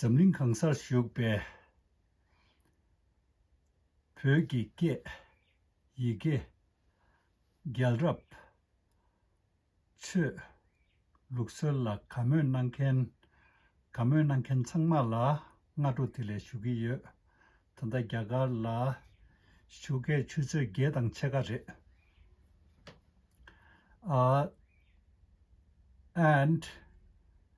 འཛམ་གླིང་གང་སར་བཞུགས་པའི་བོད་ཀྱི་སྐད་ཡི་གེ་རྒྱལ་རབས་ཆོས་ལུགས་སྲོལ་ལ་དགའ་མོས་གནང་མཁན་དགའ་མོས་གནང་མཁན་ཚང་མ་ལ་སྔ་དྲོ་དེ་ལས་ཞུ་གི་ཡོད། ད་ལྟ་རྒྱ་གར་ལ་བཞུགས་སྐད་ཆུ་ཚོད་བརྒྱད་དང་ཕྱེད་ཀ་རེད། ཨཱ། and།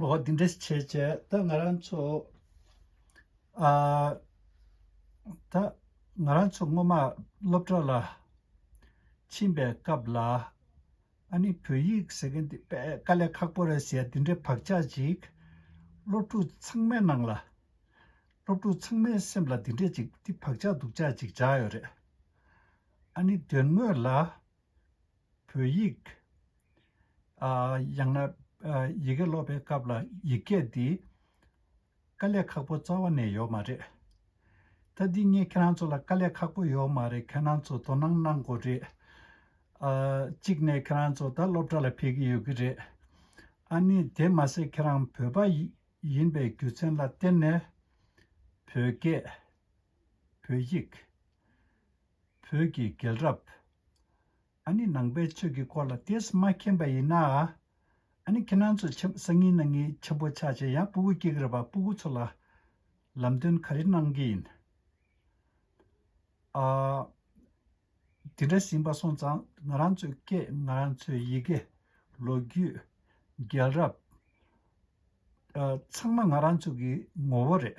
འོ་འདི་འདྲ་བྱས་བྱས་ད་ང་རང་ཚོ་ཨ། ད་ང་རང་ཚོ་སྔོན་མ་སློབ་གྲྭ་ལ་ཕྱིན་པའི་སྐབས་ལ་ཨ་ནི་བོད་ཡིག་ཟེར་མཁན་འདི་དཔེ་དཀའ་ལས་ཁག་པོ་རེད་ཟེར་འདི་འདྲའི་བག་ཆགས་ཅིག་སློབ་ཕྲུག་ཚང་མའི་ནང་ལ། སློབ་ཕྲུག་ཚང་མའི་སེམས་ལ་འདི་འདྲའི་ཅིག་འདི་བག་ཆགས་སྡུག་ཆགས་ཅིག་འཇགས་ཡོད་རེད། ཨ་ནི་དོན་དངོས་ལ། བོད་ཡིག། ཡང་ན། ཡི་གེ་སློབ་པའི་སྐབས་ལ་ཡིག་སྐད་འདི། དཀའ་ལས་ཁག་པོ་རྩ་བ་ནས་ཡོད་མ་རེད། ད་འདི་ངས་ཁྱེད་རང་ཚོ་ལ་དཀའ་ལས་ཁག་པོ་ཡོད་མ་རེད་ཁྱེད་རང་ཚོ་དོ་སྣང་གནང་དགོས་རེད། གཅིག་ནས་ཁྱེད་རང་ཚོ་ད་སློབ་གྲྭ་ལ་ཕེབས་ཀྱི་ཡོད་ཀྱི་རེད། ཨ་ནི་དེ་མ་ཟད་ཁྱེད་རང་བོད་པ་ཡིན་པའི་རྒྱུ་མཚན་ལ་བརྟེན་ནས། བོད་སྐད། བོད་ཡིག། བོད་ཀྱི་རྒྱལ་རབས། ཨ་ནི་ནང་པའི་ཆོས་ཀྱི་སྐོར་ལ་དེས་མ་མཁྱེན་པ་ཡིན་ན། ཨ་ནི་ཁྱེད་རང་ཚོས་ཆེམས་སང་ཉིན་ན་ངའི་ཆེམས་པོ་ཆགས་ཆེ་ཡང་སྤུ་གུ་སྐྱེ་གི་རེད་པ་སྤུ་གུ་ཚོ་ལ་ལམ་སྟོན་ག་རེ་གནང་གི་ཡིན་ཨ། དེ་འདྲ་ཞིན་པ་སོང་ཙང་ང་རང་ཚོའི་སྐད་ང་རང་ཚོའི་ཡི་གེ། ལོ་རྒྱུས། རྒྱལ་རབས། ཚང་མ་ང་རང་ཚོ་གི་ངོ་བོ་རེད།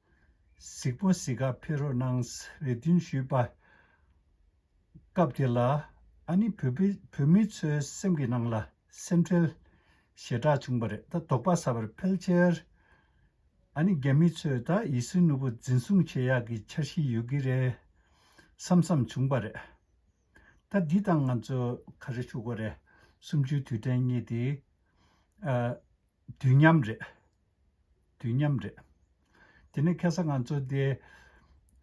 གཟིགས་པོ་གཟིགས་ཁ་ཕེ་རོ་གནང་རེ་འདུན་ཞུས་པ། སྐབས་དེ་ལ་ཨ་ནི་བོད་མི་ཚོའི་སེམས་ཀྱི་ནང་ལ་སེམས་ཁྲལ་ཞེ་དྲག་བྱུང་བ་རེད་ད་དོགས་པ་ཟ་བར་ཕལ་ཆེར་ཨ་ནི་རྒྱ་མི་ཚོས་ད་ཡི་སི་ནུ་བོ་འཛིན་བཟུང་བྱེད་ཡག་གི་འཆར་གཞི་ཡོད་ཀྱི་རེད་བསམ་བསམ་བྱུང་པ་རེད། ད་འདི་དང་ང་ཚོ་ག་རེ་ཞུ་དགོས་རེད་སུམ་ཅུའི་དུས་དྲན་གཉིས་དེ། དུས་མཉམ་རེད། དུས་མཉམ་རེད། དེ་ནས་ཁེ་ས་ང་ཚོ་དེ།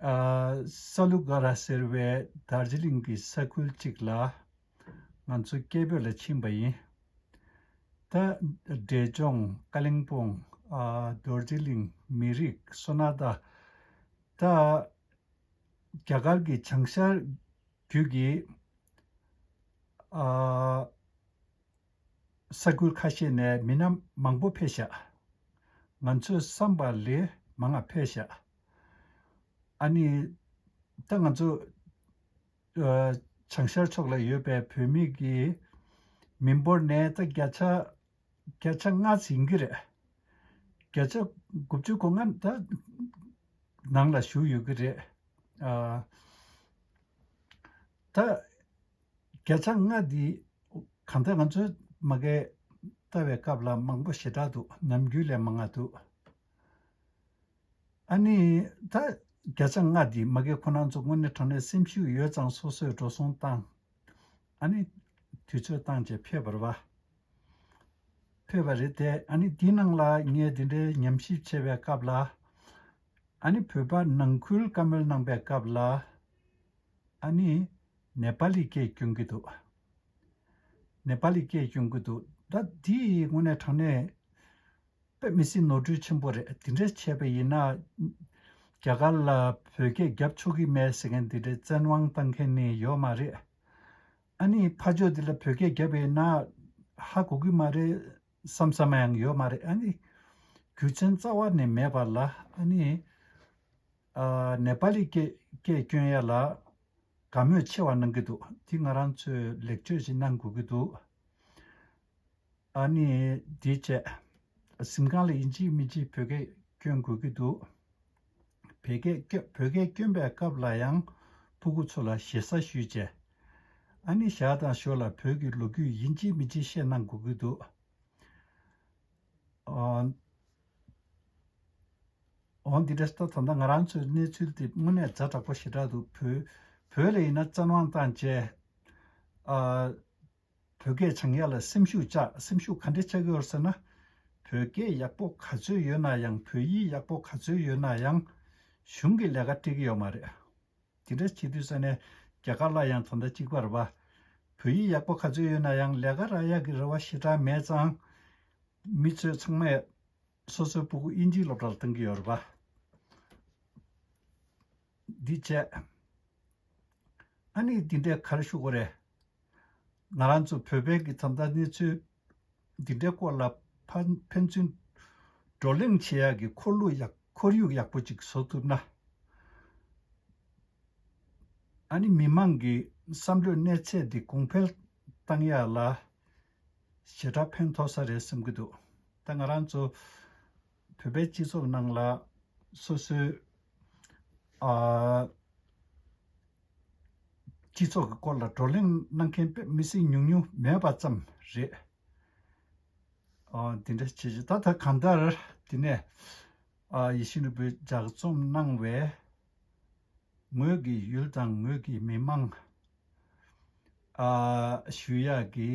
སཱ་ལུ་གྷ་ར་ཟེར་བའི་དར་ཇི་ལིང་གི་ས་ཁུལ་ཅིག་ལ། ང་ཚོ་སྐད་འབོད་ལ་ཕྱིན་པ་ཡིན། ད། འབྲས་ལྗོངས། ཀ་གླིང་སྤུངས། རྡོ་རྗེ་གླིང། མི་རིགས། སོ་ན་ད། ད། རྒྱ་གར་གྱི་བྱང་ཤར། རྒྱུད་ཀྱི། ཨ། ས་ཁུལ་ཁ་ཤས་ནས་མི་སྣ་མང་པོ་ཕེ་བཞག། ང་ཚོས་བསམ་པ་ལས་མ་ང་ཕེ་བཞག། ཨ་ནི། ད་ང་ཚོ། བྱང་ཤར་ཕྱོགས་ལ་ཡོད་པའི་བོད་མི་གི། མི་འབོར་ནས་ད་བརྒྱ་ཆ། བརྒྱ་ཆ་ལྔ་ཟིན་གི་རེད། བརྒྱ་ཆ་དགུ་བཅུ་གོ་ལྔ་ད། ནང་ལ་བཞུགས་ཡོད་གི་རེད། ད། སྐད་ཆ་ལྔ་འདི་གང་ལྟར་ང་ཚོའི་མ་སྐད་ལྟ་བའི་སྐབས་ལ་མང་པོ་ཞེ་དྲག་འདུག་ནམ་རྒྱུན་ལས་མ་མངའ་འདུག་ཨ་ནི། ད་སྐད་ཆ་ལྔ་འདི་མ་སྐད་ཁོ་ན་ཚོ་དངོས་གནས་དྲང་གནས་སེམས་ཤུགས་ཡོད་ཙང་སོ་སོས་འགྲོ་སོང་བཏང། ཨ་ནི། དུས་ཚོད་བཏང་རྗེས་ཕེབས་པར་བ། ཕེབས་པ་རེད་དེ་ཨ་ནི་འདི་ནང་ལ་ངས་འདི་འདྲའི་ཉམས་ཞིབ་བྱས་པའི་སྐབས་ལ། ཨ་ནི་བོད་པ་ནང་ཁུལ་བཀའ་མོལ་གནང་པའི་སྐབས་ལ། ཨ་ནི། ནེ་པ་ལིས་སྐད་སྐྱོན་གྱི་འདུག། ནེ་པ་ལིས་སྐད་སྐྱོན་གྱི་འདུག་ད་འདི་དངོས་གནས་དྲང་གནས། དཔེ་མི་སྲིད་ནོར་འཁྲུལ་ཆེན་པོ་རེད་འདི་འདྲས་བྱས་པ་ཡིན་ན། རྒྱ་གར་ལ་བོད་སྐད་རྒྱབ་ཆོག་གི་མེད་ཟེར་མཁན་འདི་འདྲས་བཙན་དབང་བཏང་མཁན་ནི་ཡོད་མ་རེད། ཨ་ནི་ཕ་ཇོ་འདི་ལ་བོད་སྐད་རྒྱབ་ཡོད་ན། ཧ་གོ་གི་མ་རེད་བསམ་བསམ་ཡང་ཡོད་མ་རེད་ཨ་ནི། རྒྱུ་མཚན་རྩ་བ་ནས་མེད་པ་ལ་ཨ་ནི། ནེ་པ་ལི་སྐད་སྐྱོན་ཡ་ལ་དགའ་མོས་ཆེ་བ་གནང་གི་འདུག་འདི་ང་རང་ཚོས་ལེགས་བཅོས་ཤིག་གནང་དགོས་ཀྱི་འདུག་ཨཱ་ནི་དེའི་བཅས་གཟིམ་ཁང་ལ་ཡིན་གཅིག་མིན་གཅིག་བོད་སྐད་སྐྱོན་དགོས་ཀྱི་འདུག་བོད་སྐད་སྐྱོན་བོད་སྐད་སྐྱོན་པའི་སྐབས་ལ་ཡང་ཕུ་གུ་ཚོ་ལ་ཞེ་ས་ཞུས་བཅས་ཨཱ་ནི་ཞར་དང་ཞོར་ལ་བོད་ཀྱི་ལོ་རྒྱུས་ཡིན་གཅིག་མིན་གཅིག་བཤད་གནང་དགོས་ཀྱི་འདུག། འོ་འདི་འདྲ་ལྟ་ད་ལྟ་ང་རང་ཚོའི་གནས་ཚུལ་དེ་དངོས་གནས་རྫ་དྲག་པོ་ཞེ་དྲག་འདུག་བོད་ལས་ཡིན་ན་བཙན་དབང་དང་བཅས། བོད་སྐད་བྱང་ཡག་ལ་སེམས་ཤུགས་ཆག་སེམས་ཤུགས་ག་འདྲས་ཆག་གི་ཡོད་ཟེར་ན། བོད་སྐད་ཡག་པོ་ག་ཚོད་ཡོད་ན་ཡང་བོད་ཡིག་ཡག་པོ་ག་ཚོད་ཡོད་ན་ཡང། གཞུང་གི་ལས་ཀ་སྤྲད་ཀྱི་ཡོད་མ་རེད། དེ་འདྲ་བྱེད་དུས་ས་ནས་རྒྱ་གར་ལ་ཡང་དོ་ཟླ་གཅིག་པར་བ། བོད་ཡིག་ཡག་པོ་ག་ཚོད་ཡོད་ན་ཡང་ལས་ཀ་རག་ཡག་གི་རེ་བ་ཞེ་དྲག་མེད་ཙང། མི་ཚོས་ཚང་མས་སོ་སོའི་སྤུ་གུ་དབྱིན་ཇིའི་སློབ་གྲྭ་ལ་བཏང་གི་ཡོད་རེད་བ། འདི་བྱས། ཨ་ནི་འདི་འདྲས་ག་རེ་ཞུ་དགོས་རེད། ང་རང་ཚོ་བོད་པའི་གི་ད་ལྟ་གནས་ཚུལ་འདི་འདྲའི་སྐོར་ལ་ཕན་ཚུན་བགྲོ་གླེང་བྱེད་ཡག་གི་ཁོར་ཡུག་ཡག་པོ་ཅིག་བཟོ་ཐུབ་ན། ཨ་ནི་མི་མང་གི་བསམ་བློས་གནས་ཚད་འདི་གོང་འཕེལ་གཏང་ཡག་ལ། ཞེ་དྲག་ཕན་ཐོགས་ས་རེད་བསམ་གི་འདུག་ད་ང་རང་ཚོ། བོད་པའི་སྤྱི་ཚོགས་ནང་ལ། སོ་སོའི། སྤྱི་ཚོགས་ཀྱི་སྐོར་ལ་བགྲོ་གླེང་གནང་མཁན་མི་སེར་ཉུང་ཉུང་མེད་པ་ཙམ་རེད། འདི་འདྲ་བྱེད་བྱེད་ད་ལྟ་གང་ལྟར་དེ་ནས། ཡེ་ཤེས་ནོར་བུས་ལྗགས་རྩོམ་གནང་བའི། ངོས་ཀྱི་ཡུལ་དང་ངོས་ཀྱི་མི་དམངས། ཞུ་ཡག་གི་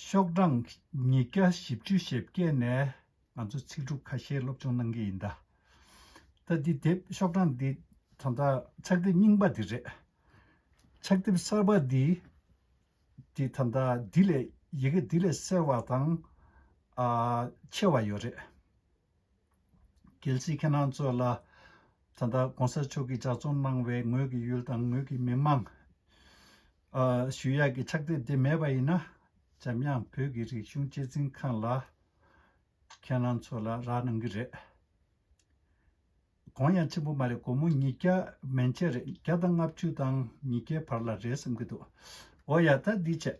ཤོག་གྲངས་ཉིས་བརྒྱ་བཞི་བཅུ་ཞེ་བརྒྱད་ནས་ང་ཚོ་ཚིག་གྲུབ་ཁ་ཤས་སློབ་སྦྱོང་གནང་གི་ཡིན་ད། ད་འདི་དེབ་ཤོག་གྲངས་འདི་ད་ལྟ་ཕྱག་དེབ་རྙིང་པ་འདི་རེད། ཕྱག་དེབ་གསར་པ་འདི་འདི་ད་ལྟ་འདི་ལས་ཡི་གེ་འདི་ལས་གསལ་བ་དང་ཆེ་བ་ཡོད་རེད། གལ་སྲིད་ཁྱེད་རང་ཚོ་ལ། ད་ལྟ་གོང་ས་མཆོག་གིས་གྲྭ་བཙུན་གནང་བའི་ངོས་ཀྱི་ཡུལ་དང་ངོས་ཀྱི་མི་དམངས། ཞུ་ཡག་གི་ཕྱག་དེབ་དེ་མེད་པ་ཡིན་ན། འཇམ་དབྱངས་བོད་ཀྱི་རིག་གཞུང་གཅེས་འཛིན་ཁང་ལ། ཁྱེད་རང་ཚོ་ལ་རག་གནང་གི་རེད། གོང་ཡང་ཕྱི་པོ་མ་རེད་དགོང་མོ་ཉིས་བརྒྱ་མན་ཆད་རེད་བརྒྱ་དང་ལྔ་བཅུ་དང་ཉིས་བརྒྱའི་བར་ལ་རེད་བསམ་གྱི་འདུག་འོ་ཡ་ད་འདི་བྱས།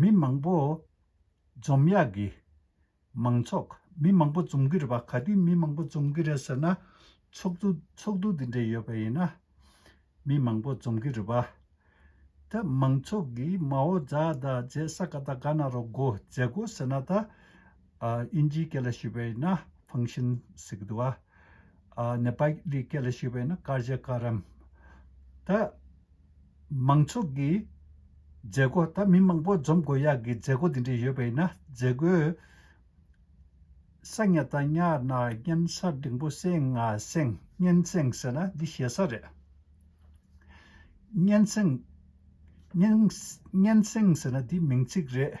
མི་མང་པོ་འཛོམས་ཡག་གི། མང་ཚོགས་མི་མང་པོ་འཛོམས་ཀྱི་རེད་པ་ག་དུས་མི་མང་པོ་འཛོམས་ཀྱི་རེད་ཟེར་ན་ཚོགས་འདུ་ཚོགས་འདུ་འདི་འདྲ་ཡོད་པ་ཡིན་ན་མི་མང་པོ་འཛོམས་ཀྱི་རེད་པ། ད་མང་ཚོགས་ཀྱིས་མའོ་ཛཱ་ད་རྗེས་ས་ག་ད་ག་ན་རོགས་དགོ་མཛད་དགོ་ཟེར་ན་ད་དབྱིན་ཇིའི་སྐད་ལ་ཞུས་པས་ན་ཕང་ཤིན་ཟེར་གི་འདུག་ཨ། ནེ་པ་ལིའི་སྐད་ལ་ཞུས་པས་ན་ཀར་ཇ་ཀ་རམ། ད། མང་ཚོགས་ཀྱི། མཛད་སྒོ་ད་མི་མང་པོ་འཛོམས་དགོས་ཡག་གི་མཛད་སྒོ་དེ་འདྲ་ཡོད་པས་ན་མཛད་སྒོའི། ས་ཉག་ད་ཉག་ན་སྙན་ས་འབྲིང་པོ་སེང་ང་སེང་སྙན་སེང་ཟེར་ན་འདི་ཞེ་ས་རེད། སྙན་སེང། སྙན་སེང་ཟེར་ན་འདི་མིང་ཚིག་རེད།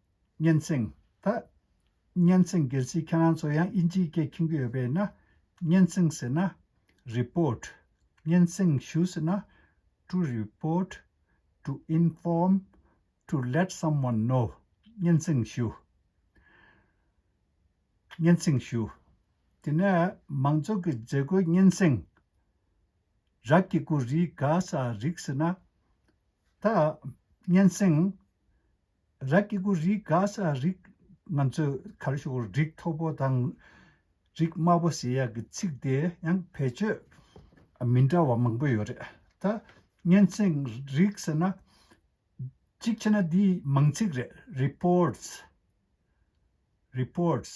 སྙན་སེང། ད། སྙན་སེང་གལ་སྲིད་ཁྱེད་རང་ཚོ་ཡང་དབྱིན་ཇིའི་སྐད་མཁྱེན་གི་ཡོད་པས་ན། སྙན་སེང་ཟེར་ན། Report། སྙན་སེང་ཞུ་ཟེར་ན། To report To inform To let someone know སྙན་སེང་ཞུ། སྙན་སེང་ཞུ། དེ་ནས་མང་ཚོགས་ཀྱི་མཛད་སྒོའི་སྙན་སེང། རབ་ཀྱི་སྐུ་རིག་ག་ས་རིག་ཟེར་ན། ད། སྙན་སེང། ར་སྐྱེ་དགུ་རིགས་དགའ་ས་རིགས། ང་ཚོས་གར་ཞོག་རིགས་མཐོ་པོ་དང། རིགས་དམའ་པོ་ཞེས་ཡག་གི་ཚིག་དེ་ཡང་བེད་སྤྱོད་མི་འདྲ་བ་མང་པོ་ཡོད་རེད་ད། སྙན་སེང་རིགས་ཟེར་ན། གཅིག་བྱས་ན་འདིའི་མང་ཚིག་རེད Reports། Reports།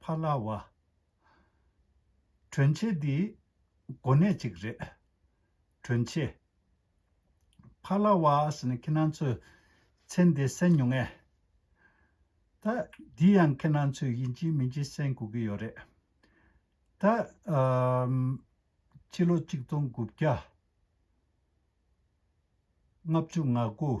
ཕ་ལ་བ། གྲོན་ཆེ་འདི། གོ་གནས་གཅིག་རེད། གྲོན་ཆེ། ཕ་ལ་བ་ཟེར་ན་ཁྱེད་རང་ཚོས་མཚན་དེ་གསན་མྱོང་ངེས། ད། འདི་ཡང་ཁྱེད་རང་ཚོས་ཡིན་གཅིག་མིན་གཅིག་གསན་དགོས་ཀྱི་ཡོད་རེད། ད། ཕྱི་ལོ་གཅིག་སྟོང་དགུ་བརྒྱ། ལྔ་བཅུ་ང་དགུ།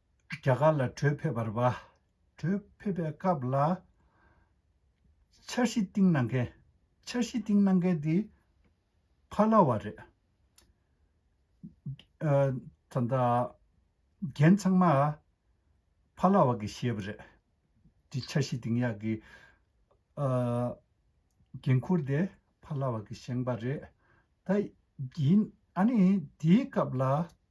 རྒྱ་གར་ལ་བྲོས་ཕེབས་པར་བརྗོད། བྲོས་ཕེབས་པའི་སྐབས་ལ། འཆར་གཞི་བཏིང་གནང་མཁན། འཆར་གཞི་བཏིང་གནང་མཁན་དེ། ཕ་ལ་བ་རེད། ད་ལྟ། རྒན་ཚང་མ། ཕ་ལ་བ་གི་བཞེས་པ་རེད། དེ་འཆར་གཞི་བཏིང་ཡག་གི། འགན་ཁུར་དེ་ཕ་ལ་བ་གི་བཞེངས་པ་རེད། ད། ཡིན། ཨ་ནི་དེའི་སྐབས་ལ།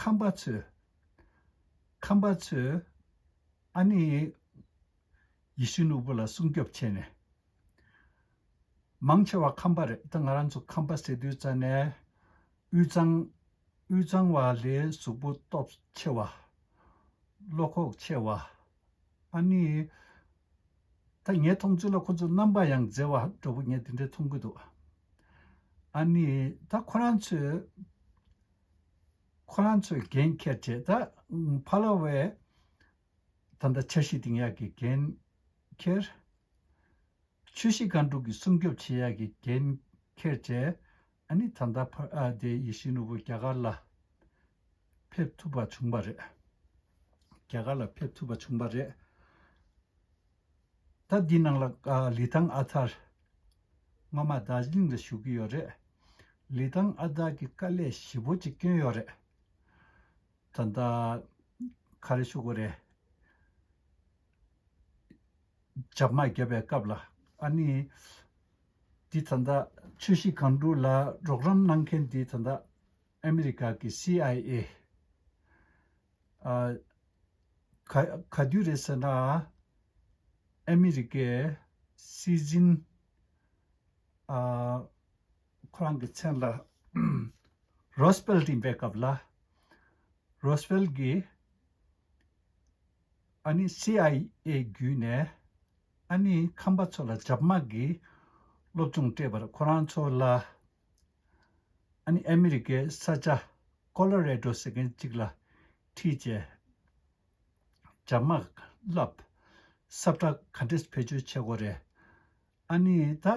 ཁམས་པ་ཚོས། ཁམས་པ་ཚོས། ཨ་ནི། ཡེ་ཤུ་ནོར་བུ་ལ་སྲུང་སྐྱོབ་བྱས་ནས། མང་ཆེ་བ་ཁམས་པ་རེད་ད་ང་རང་ཚོ་ཁམས་པ་ཟེར་དུས་རྩ་ནས། དབུས་གཙང། དབུས་གཙང་བ་ལས་གཟུགས་པོ་སྟོབས་ཆེ་བ། བློ་ཁོག་ཆེ་བ། ཨ་ནི། ད་ངས་མཐོང་ཚུལ་ལ་ཁོ་ཚོས་རྣམ་པ་ཡང་མཛེས་བ་འདྲ་བོ་ངས་དེ་འདྲའི་མཐོང་གི་འདུག་ཨ་ནི། ད་ཁོ་རང་ཚོས། ཁོ་རང་ཚོས་འགན་ཁྱེར་རྗེས་ད་ཕ་ལ་བས། ད་ལྟ་འཆར་གཞི་འདིང་ཡག་གི་འགན་ཁྱེར། ཆོས་གཞི་སྒང་དྲུག་གི་སྲུང་སྐྱོབ་བྱེད་ཡག་གི་འགན་ཁྱེར་བྱས། ཨ་ནི་ད་ལྟ་ཕར་ཨ་དེའི་ཡིད་བཞིན་ནོར་བུ་རྒྱ་གར་ལ་ཕེབས་ཐུབ་པ་བྱུང་བ་རེད། རྒྱ་གར་ལ་ཕེབས་ཐུབ་པ་བྱུང་བ་རེད། ད་འདི་ནང་ལ་ལི་ཐང་ཨ་ཐར་སྔོན་མ་རྡ་རྗི་ལིང་ལ་བཞུགས་ཀྱི་ཡོད་རེད། ལི་ཐང་ཨ་ཐར་གྱི་དཀའ་ལས་ཞི་བོ་ཅིག་བསྐྱོན་ཡོད་རེད། ད་ལྟ་ཁ་རེ་ཤོ་གོ་རེ་ཇབ་དམག་བརྒྱབ་པའི་སྐབས་ལ་ཨ་ནི། འདི་ད་ལྟ་ཆོས་གཞིས་གང་དྲུག་ལ་རོགས་རམ་གནང་མཁན་འདི་ད་ལྟ་ཨ་མི་རི་ཀ་གི་སི་ཨའི་ཨེ། ག་དུས་རེད་ཟེར་ན་ཨ་མི་རི་ཀའི་སི་ཛིན། ཁོ་རང་གི་མཚན་ལ་རོས་ཕེལ་ཏིན་པའི་སྐབས་ལ་རོས་ཕེལ་གྱི། ཨ་ནི་སི་ཨའི་ཨེ་བརྒྱུད་ནས་ཨ་ནི་ཁམས་པ་ཚོ་ལ་ཇབ་དམག་གིས་སློབ་སྦྱོང་སྤྲད་པར་ཁོ་རང་ཚོ་ལ་ཨ་ནི་ཨ་མི་རི་ཀའི་ས་ཆ་ཀོ་ལོ་རེ་ཏྲོ་ཟེར་མཁན་གཅིག་ལ་ཁྲིད་བྱས། ཇབ་དམག་བསླབས། སབ་ཏྲ་གྷ་འདྲེས་བེད་སྤྱོད་བྱས་གོ་རེ་ཨ་ནི་ད་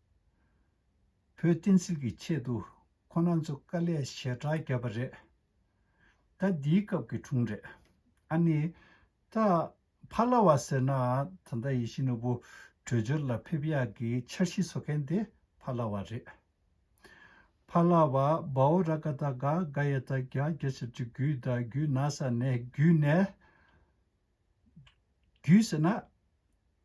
བོད་བསྟན་སྲིད་ཀྱི་ཆེད་དུ་ཁོ་ན་ཚོ་དཀའ་ལས་ཞེ་དྲག་བརྒྱབ་པ་རེད། ད་འདིའི་སྐབས་ཀྱི་དྲུང་རེད། ཨ་ནི། ད་ཕ་ལ་བ་ཟེར་ན་ད་ལྟ་ཡེ་ཤེས་ནོར་བུ་བྲོས་བྱོལ་ལ་ཕེབས་ཡག་གི་འཆར་གཞི་བཟོ་མཁན་དེ་ཕ་ལ་བ་རེད། ཕ་ལ་བ་བའོ་ར་ཀ་ད་ག་ག་ཡ་ད་ག་ག་ཆ་ཆུ་རྒྱུད་ད་རྒྱུད་ན་ས་ནས་རྒྱུད་ནས་རྒྱུད་ཟེར་ན།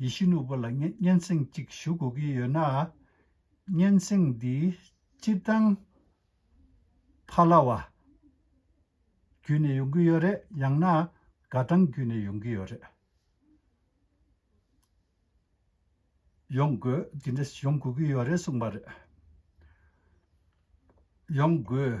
ཡེ་ཤུ་ནོར་བུ་ལ་སྙན་སེང་གཅིག་ཞུ་དགོས་ཀྱི་ཡོད་ན། སྙན་སེང་འདི་སྤྱིར་བཏང་ཕ་ལ་བ་བརྒྱུད་ནས་ཡོང་གི་ཡོད་རེད་ཡང་ན་དགའ་སྤྲང་བརྒྱུད་ནས་ཡོང་གི་ཡོད་རེད། ཡོང་དགོས་དེ་འདྲ་ཡོང་དགོས་ཀྱི་ཡོད་རེད་གསུངས་པ་རེད། ཡོང་དགོས།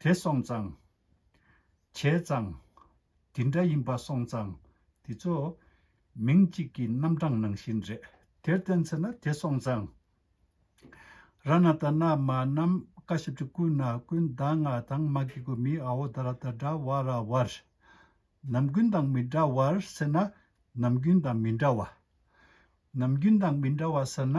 དེ་སོང་ཙང། བྱས་ཙང། དེ་འདྲ་ཡིན་པ་སོང་ཙང་དེ་ཚོ། མིང་གཅིག་གི་རྣམ་གྲངས་ནང་བཞིན་རེད། དེར་བརྟེན་མཚོན་ན་དེ་སོང་ཙང། ར་ན་ད་ན་མ་ནམ་མཁའ་བཞི་བཅུ་ཀུན་ན་ཀུན་ད་ང་དང་མ་གི་གུ་མི་ཨའོ་ད་ར་ད་འདྲ་བ་ར་བར། ནམ་རྒྱུན་དང་མི་འདྲ་བར་ཟེར་ན་ནམ་རྒྱུན་དང་མི་འདྲ་བ། ནམ་རྒྱུན་དང་མི་འདྲ་བ་ཟེར་ན།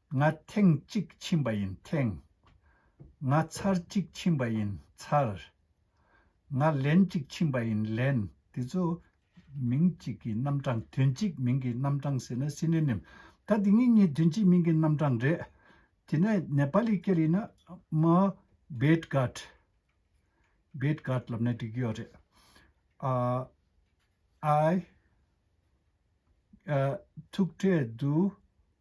ང་ཐེངས་གཅིག་ཕྱིན་པ་ཡིན་ཐེངས། ང་ཚར་གཅིག་ཕྱིན་པ་ཡིན་ཚར། ང་ལན་གཅིག་ཕྱིན་པ་ཡིན་ལན། དེ་ཚོ་མིང་གཅིག་གི་རྣམ་གྲངས་དོན་གཅིག་མིང་གི་རྣམ་གྲངས་ཟེར་ན Synonym ད་དེ་གཉིས་གཉིས་དོན་གཅིག་མིང་གི་རྣམ་གྲངས་རེད། དེ་ནས་ནེ་པ་ལི་སྐད་ཡིན་ན་མོ་བེད་གྷར། Bed Guard། ལབ་ན་འགྲིག་གི་ཡོད་རེད། ཨ་ཨ་ཨ། ཐུག་འཕྲད་དུ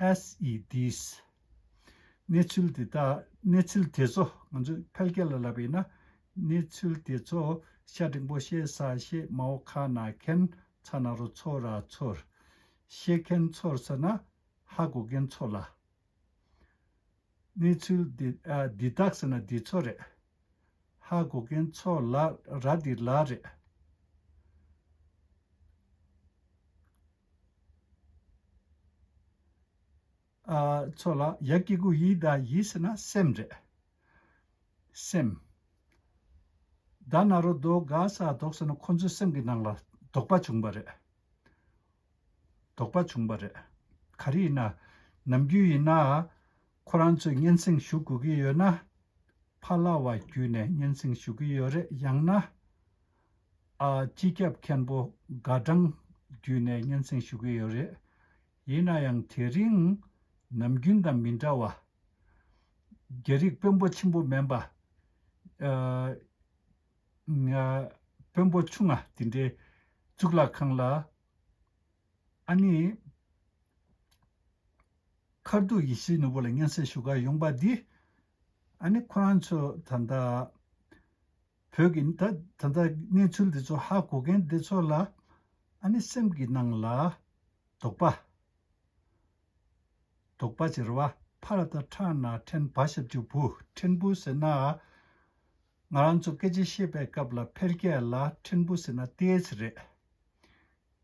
SEDs། གནས་ཚུལ་དེ་དག་གནས་ཚུལ་དེ་ཚོ་ང་ཚོས་ཕལ་སྐད་ལ་ལབ་པས་ན། གནས་ཚུལ་དེ་ཚོ་ཤ་འབྲིང་པོ་ཤེས་ས་ཤེས་མ་འོ་ཁ་ན་མཁན་ཚ་ན་རོ་ཚོ་ར་ཚོར། ཤེས་མཁན་ཚོར་ཟེར་ན་ཧ་གོ་མཁན་ཚོ་ལ། གནས་ཚུལ་དེ་འདི་དག་ཟེར་ན་འདི་ཚོ་རེད། ཧ་གོ་མཁན་ཚོ་ལ་ར་འདི་ལ་རེད། ཚོགས་ལ་ཡ་སྐྱེ་དགུ་ཡིད་བདག་ཡིད་ཟེར་ན་སེམས་རེད། སེམས། བདག་ན་རོ་བདོག་དགའ་ས་བདོག་ཟེར་ན་ཁོ་ཚོའི་སེམས་ཀྱི་ནང་ལ་དོགས་པ་བྱུང་བ་རེད། དོགས་པ་བྱུང་བ་རེད། ག་རེ་ཡིན་ན། ནམ་རྒྱུན་ཡིན་ན། ཁོ་རང་ཚོས་སྙན་སེང་ཞུ་དགོས་ཀྱི་ཡོད་ན། ཕ་ལྭ་བ་བརྒྱུད་ནས་སྙན་སེང་ཞུ་གི་ཡོད་རེད་ཡང་ན། སྤྱི་ཁྱབ་མཁན་པོ་དགའ་བྲང་བརྒྱུད་ནས་སྙན་སེང་ཞུ་གི་ཡོད་རེད། ཡིན་ན་ཡང་དེ་རིང་ནམ་རྒྱུན་དང་མི་འདྲ་བ། རྒྱ་རིགས་དཔོན་པོ་ཆེན་པོ་མེན་པ། དཔོན་པོ་ཆུང་ང་དེ་འདྲའི་གཙུག་ལག་ཁང་ལ། ཨ་ནི། མཁར་དུ་ཡེ་ཤེས་ནོར་བུ་ལ་སྙན་སེང་ཞུ་ག་ཡོང་པ་འདི། ཨ་ནི་ཁོ་རང་ཚོ་ད་ལྟ། བོད་ཀྱི་ད་ད་ལྟ་གནས་ཚུལ་འདི་ཚོ་ཧ་གོ་མཁན་འདི་ཚོ་ལ་ཨ་ནི་སེམས་ཀྱི་ནང་ལ་དོགས་པ། དོགས་པ་བྱེ་ར་བ་ཕ་ར་ད་ཁྲག་ནག་ཕྲན་བ་ཞབས་ཀྱི་བུ་ཕྲན་བུ་ཟེར་ན། ང་རང་ཚོ་སྐད་ཆ་བཤད་པའི་སྐབས་ལ་ཕལ་སྐད་ལ་ཕྲན་བུ་ཟེར་ན་ཏེས་རེད།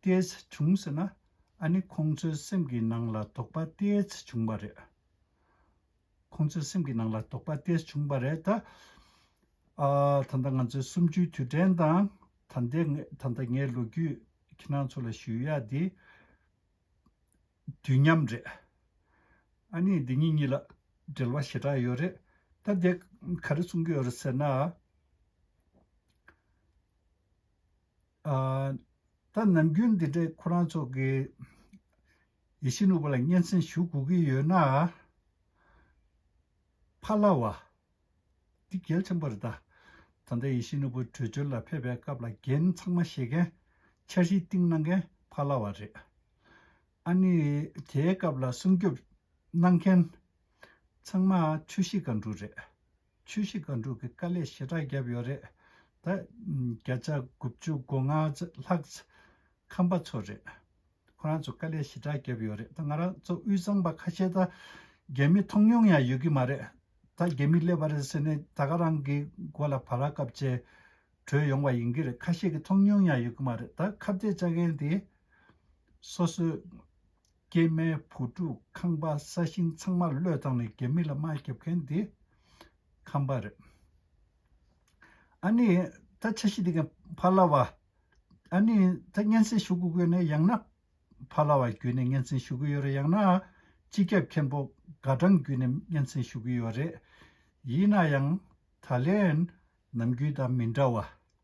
ཏེས་བྱུང་ཟེར་ན་ཨ་ནི་ཁོང་ཚོའི་སེམས་ཀྱི་ནང་ལ་དོགས་པ་ཏེས་བྱུང་བ་རེད། ཁོང་ཚོའི་སེམས་ཀྱི་ནང་ལ་དོགས་པ་དེ་བྱུང་བ་རེད། ད་ལྟ་ང་ཚོའི་གསུམ་བཅུའི་དུས་དྲན་དང། ད་ལྟའི་ད་ལྟ་ངའི་ལོ་རྒྱུས་ཁྱེད་རང་ཚོ་ལ་ཞུ་ཡ་དེ། དུས་མཉམ་རེད། ཨ་ནི་འདི་གཉིས་གཉིས་ལ་འབྲེལ་བ་ཞེ་དྲག་ཡོད་རེད། ད་དེ་ག་རེ་གསུང་གི་ཡོད་རེད་ཟེར་ན། ད་ནམ་རྒྱུན་འདི་འདྲའི་ཁོ་རང་ཚོ་གི། ཡེ་ཤེས་ནུབ་པ་ལ་སྙན་གསན་ཞུ་དགོས་ཀྱི་ཡོད་ན། ཕ་ལ་བ། འདི་རྒྱལ་ཆེན་པོ་རེད་ད། ད་ལྟ་ཡེ་ཤེས་ནུབ་པོ་བྲོས་བྱོལ་ལ་ཕེབས་པའི་སྐབས་ལ་རྒྱན་ཚང་མ་བཞེས་མཁན། འཆར་གཞི་བཏིང་གནང་མཁན་ཕ་ལ་བ་རེད། ཨ་ནི་དེའི་སྐབས་ལ་སྲུང་སྐྱོབ་གནང་མཁན། ཚང་མ་ཆོས་གཞིས་སྒང་དྲུག་རེད། ཆུ་བཞི་སྒང་དྲུག་གི་དཀའ་ལས་ཞེ་དྲག་བརྒྱབ་ཡོད་རེད་ད། བརྒྱ་ཆ་དགུ་བཅུ་དགུ་ལྔ་ལྷག་ཁམས་པ་ཚོ་རེད། ཁོ་རང་ཚོ་དཀའ་ལས་ཞེ་དྲག་བརྒྱབ་ཡོད་རེད་ད་ང་རང་ཚོ་དབུས་གཙང་པ་ཁ་ཤས་ད། རྒྱ་མི་མཐོང་མྱོང་ཡང་ཡོད་ཀྱི་མ་རེད་ད་རྒྱ་མི་སླེབས་པ་རེད་ཟེར་ནས་ད་ག་རང་གི་མགོ་ལ་བ་ར་སྐབས་བཅས་བྲོས་ཡོང་བ་ཡིན་གྱི་རེད་ཁ་ཤས་ཀྱི་མཐོང་མྱོང་ཡང་ཡོད་ཀྱི་མ་རེད་ད་ཁ་བརྡས་བཅའ་མཁན་དེ་སོ་སོའི་སྐྱེས་མའི་བུ་ཕྲུག་ཁང་པ་ས་ཞིང་ཚང་མ་བློས་བཏང་ནས་རྒྱ་མི་ལ་དམའ་རྒྱབ་མཁན་དེ་ཁམས་པ་རེད། ཨ་ནི་ད་ཆ་ཤི་དག་ཕ་ལ་བ། ཨ་ནི་ད་སྙན་སེང་ཞུ་གི་དགོས་ནས་ཡང་ན་ཕ་ལ་བ་བརྒྱུད་ནས་སྙན་སེང་ཞུ་གི་ཡོད་རེད་ཡང་ན་སྤྱི་ཁྱབ་མཁན་པོ་དགའ་སྦྲང་བརྒྱུད་ནས་སྙན་སེང་ཞུ་གི་ཡོད་རེད། ཡིན་ན་ཡང་ད་ལན་ནམ་རྒྱུན་དང་མི་འདྲ་བ།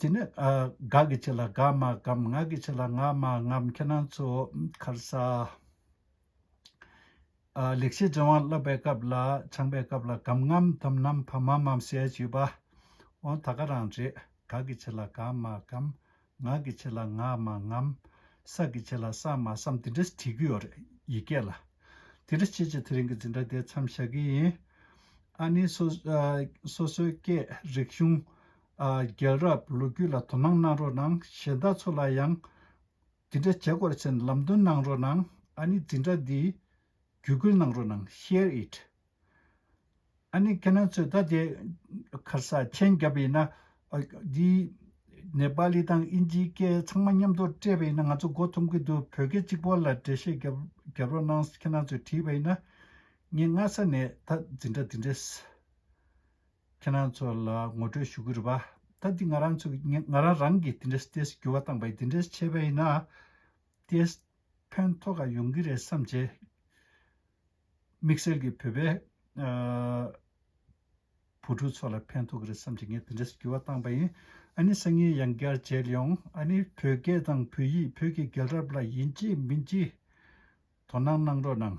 དེ་ནི་དགའ་གི་ཆེད་ལ་དགའ་སྨྲ་གམ་ངག་གི་ཆེད་ལ་ངག་སྨྲ་ངམ་ཁྱེད་རང་ཚོ་མཁར་ས། ལེགས་བཤད་ཅན་དབང་བསླབ་པའི་སྐབས་ལ་ཆང་པའི་སྐབས་ལ་གམ་ངམ་དམ་ནམ་ཕམ་མམ་མམ་བཤད་བྱས་པ། འོ་ད་ག་རང་རེད་དགའ་གི་ཆེད་ལ་དགའ་སྨྲ་གམ། ངག་གི་ཆེད་ལ་ངག་མ་ངམ། ས་གི་ཆེད་ལ་སག་མ་སམ་དེ་འདྲ་བྲིས་རྒྱུ་ཡོད་རེད་ཡིག་སྐད་ལ། དེ་འདྲ་བྱེད་བྱེད་དེ་རིང་གི་འཛིན་གྲྭ་དེ་མཚམས་བཞག་གི་ཡིན། ཨ་ནི། སོ་སོའི་སྐད་རིག་གཞུང། རྒྱལ་རབས་ལོ་རྒྱུས་ལ་དོ་སྣང་གནང་རོགས་གནང་གཞན་དག་ཚོ་ལ་ཡང། དེ་འདྲ་བྱེད་དགོས་ཚེ་ལམ་སྟོན་གནང་རོགས་གནང་ཨ་ནི་འཛིན་གྲྭ་འདིའི། བརྒྱུད་སྐུལ་གནང་རོགས་གནང share it། ཨ་ནི་ཁྱེད་རང་ཚོས་ད་དེ་གར་ས་ཆེན་བརྒྱབ་ཡིན་ན། འདི་ནེ་པ་ལི་དང་ཨིན་ཇིའི་སྐད་ཚང་མ་མཉམ་དུ་སྤྲད་པ་ཡིན་ན་ང་ཚོ་མགོ་འཐོམ་གི་འདུག་བོད་སྐད་གཅིག་པོ་ལ་འགྲེལ་བཤད་བརྒྱབ་རོགས་གནང་ཁྱེད་རང་ཚོས་བྲིས་པ་ཡིན་ན། ངས་སྔ་ས་ནས་ད་འཛིན་གྲྭ་འདི་འདྲ་ཁྱེད་རང་ཚོ་ལ་ངོ་སྤྲོད་ཞུ་གི་རེད་པ། ད་འདི་ང་རང་ཚོ་ང་རང་རང་གིས་འདི་འདྲ་ཏེས་འགྱུར་བ་བཏང་པ་ཡིན་འདི་འདྲ་བྱས་པ་ཡིན་ན། ཏེས་ཕན་ཐོག་ག་ཡོང་གི་རེད་བསམ་བྱས། དམིགས་བསལ་གྱི་བོད་པའི་བུ་ཕྲུག་ཚོ་ལ་ཕན་ཐོག་གི་རེད་བསམ་གྱི་ངས་དེ་འདྲས་སུ་འགྱུར་བ་བཏང་པ་ཡིན། ཨ་ནི་སང་ཉིན་ཡང་བསྐྱར་མཇལ་ཡོང། ཨ་ནི་བོད་སྐད་དང་བོད་ཡིག་བོད་ཀྱི་རྒྱལ་རབས་ལ་ཡིན་གཅིག་མིན་གཅིག་དོ་སྣང་གནང་རོགས་གནང།